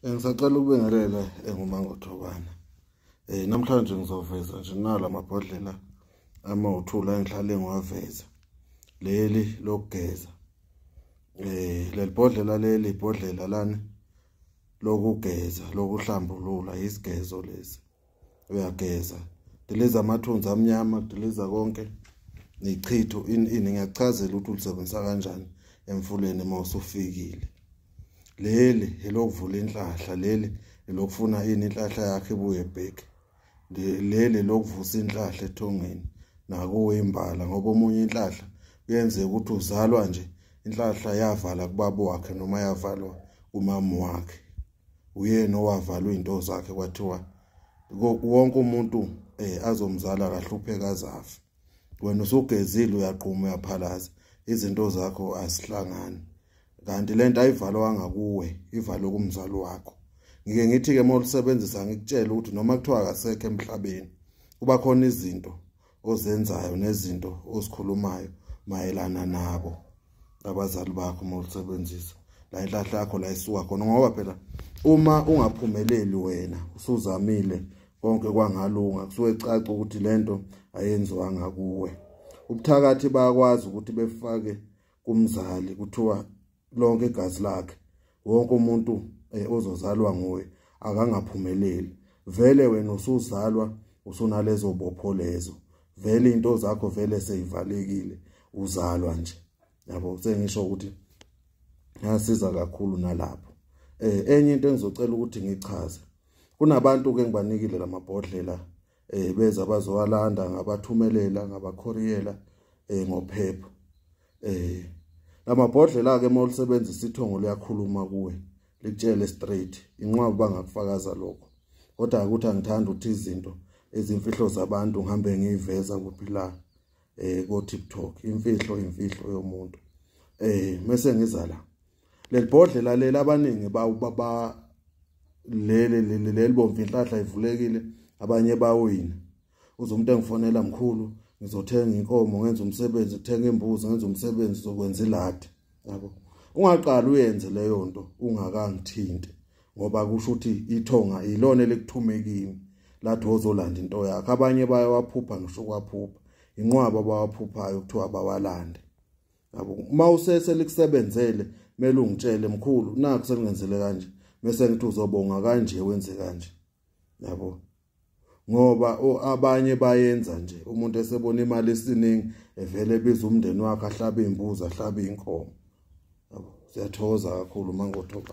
Ngisacela ukubingelela engumangothobana. Eh namhlanje ngizoveza nje nala mabhodlela ama uthula engihlale ngiwaveza. Leli lokugeza. Eh lelibhodlela leli ibhodlela lani lokugeza lokuhlambulula isigezo lesi. uyageza diliza amathunzi amnyama diliza konke nechitho ini ini ngiyakuchazela ukuthi ulisebenzisa kanjani emfuleni uma usufikile leli elokuvula inhlahla leli elokufuna ini inhlahla yakhe ibuye back leli lokuvusa inhlahla ethongeni nakuwe imbala ngoba omunye inhlahla kuyenzeka ukuthi uzalwa nje inhlahla yavala kubaba wakhe noma yavalwa kumama wakhe uyena owavalwa izinto zakhe kwathiwa wonke umuntu eh azomzala kahlupheka azafi wena usugezile uyaqhuma uyaphalaza izinto zakho asihlangani kanti lento ayivalwanga kuwe ivalwe kumzali wakho ngike ngithi ke molusebenzisa ngikutshela ukuthi noma kuthiwa akasekho emhlabeni kuba khona izinto ozenzayo nezinto ozikhulumayo mayelana nabo abazali bakho uma ulisebenzisa la inhlahla yakho la isuka khona ngoba phela uma ungaphumeleli wena usuzamile konke kwangalunga kusuke caca ukuthi lento ayenziwanga kuwe ubuthakathi bayakwazi ukuthi befake kumzali kuthiwa lonke igazi lakhe wonke umuntu eh, ozozalwa nguye akangaphumeleli vele wena usuzalwa usunalezo bopho lezo vele into zakho vele seyivalekile uzalwa nje yabo sengisho ukuthi ngasiza kakhulu nalapho eh enye into engizocela ukuthi ngichaze kunabantu ke ngibanikile lamabhodlela eh beza bazowalanda ngabathumelela ngabakhoriyela eh ngophepha eh lamabhodlela ke uma ulisebenzisa ithongo liyakhuluma kuwe likutshele straight inqwabu bangakufakaza lokho kodwa ukuthi angithanda ukuthi izinto ezimfihlo zabantu ngihambe ngiyiveza kuphi la eh ko TikTok imfihlo imfihlo yomuntu eh mase ngiza la lelibhodlela leli abaningi ba baba leli leli lelibomvu inhlahla ivulekile abanye bawina uze umuntu engifonela mkhulu ngizothenga inkomo ngenza umsebenzi ngithenga imbuzi ngenza umsebenzi zokwenza iladi yabo ungaqali uyenze leyo nto ungakangithinti ngoba kusho ukuthi ithonga ilona elikuthume kimi lathi wozolanda into yakhe abanye bayawaphupha ngisho kwaphupha inqwaba abawaphuphayo kuthiwa bawalande yabo uma usese likusebenzele mele ungitshele mkhulu nakho selingenzele kanje bese ngithi uzobonga kanje wenze kanje yabo ngoba abanye bayenza nje umuntu esebona imali esiningi evele ebiza umndeni wakhe ahlabe imbuzi ahlabe inkomo yabo siyathokoza kakhulu mangothoba